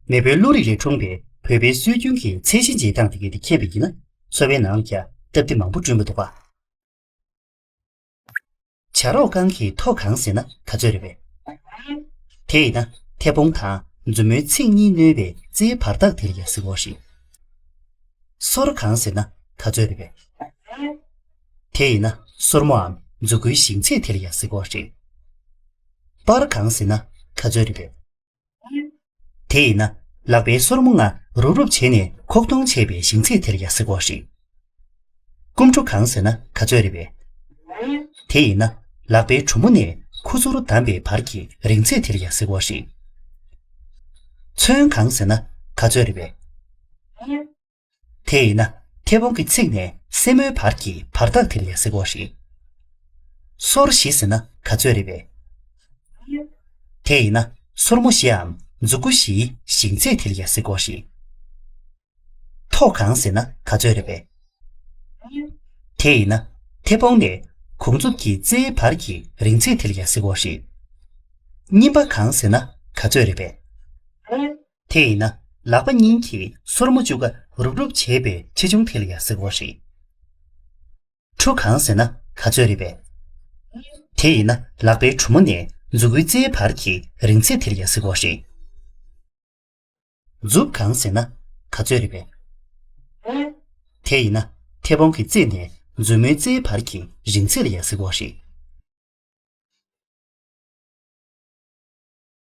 མེས་པོའི་བློ་རིག་ལས་འཁྲུངས་པའི་བོད་པའི་སྲོལ་རྒྱུན་གྱི་ཚད་གཞི་འབྱེད་སྟངས་དེ་གལ་ཏེ་མཁྱེན་པ་ཡིན་ན་འཚོ་བའི་ནང་ཀྱང་སྟབས་བདེ་མང་པོ་བསྐྲུན་པ་འདུག་པ། བྱ་རོག་རྐང་གི་ཐོག་གང་ཟེར་ན་ད་ཚོད་རེད་བས། དེས་ན་མཐེ་བོང་དང་མཛུབ་མོའི་ཚིགས་གཉིས་བསྣོལ་བའི་རྩེའི་བར་ཐག་དེར་ཡང་ཟིག་འོ་ཞིག། སོར་གང་ཟེར་ན་ད་ཚོད་རེད་བས། དེས་ན་སོར་མོའམ་མཛུ་གུའི་ཞིང་ཚད་དེར་ཡང་ཟིག་འོ་ཞིག། པར་གང་ཟེར་ན་ད་ཚོད་རེད་བས། དེས་ན་ལག་པའི་སོར་མོ་ལྔ་རུབ་རུབ་བྱས་ནས་ཁོག་སྟོང་ཆད་པའི་ཞིང་ཚིག་དེར་ཡང་སེ་གོག་རིགས། སྐུམ་བྲོ་གང་ཟེར་ན་ག་ཚོད་རེད་པས། དེས་ན་ལག་པའི་གྲུ་མོ་ནས་ཁུ་ཚུར་བསྡམས་པའི་བར་གྱི་རིང་ཚད་དེར་ཡང་སེ་གོག་རིགས། ཚོན་གང་ཟེར་ན་ག་ཚོད་རེད་པས། དེ་ཡིན་ན་མཐེ་བོང་གི་ཚིགས་ནས་སེན་མོའི་བར་གྱི་བར་ཐག་དེ་ལས་སེ་གོ་རེད། སོར་བཞི་ཟེར་ན་ག་ཚོད་རེད་པས། དེ་ཡིན་ན་སོར་མོ་བཞི་འམ་མཛུ་གུ་བཞིའི་ཞེང་ཚད་དེ་ལས་སེ་གོ་རེད། མཐོ་གང་ཟེར་ན་ག་ཚོད་རེད་པས། དེ་ཡིན་ན་མཐེ་བོང་ནས་གུང་མཛུབ་ཀྱི་རྩེའི་བར་གྱི་རིང་ཚད་དེ་ལས་སེ་གོ་རེད། སྙིམ་པ་གང་ཟེར་ན་ག་ཚོད་རེད་པས། དེ་ཡིན་ན་ལག་པ་གཉིས་ཀྱིས་སོར་མོ་བཅུག་ཀ་རུབ་རུབ་བྱས་པའི་ཆེ་ཆུང་དེ་ལ་ཡང་ཟེར་བ་རེད། ཁྲུ་གང་ཟེར་ན་ག་ཚོད་རེད་པས། དེ་ཡིན་ན་ལག་པའི་གྲུ་མོ་ནས་མཛུ་གུའི་རྩེའི་བར་གྱི་རིང་ཚད་དེ་ལ་ཡང་ཟེར་བ་རེད། མཛུབ་གང་ཟེར་ན་ག་ཚོད་རེད་པས། དེ་ཡིན་ན་མཐེ་བོང་གི་རྩེ་ནས་མཛུབ་མོའི་རྩེའི་བར་གྱི་རིང་ཚད་ལ་ཡང་ཟེར་བ་རེད།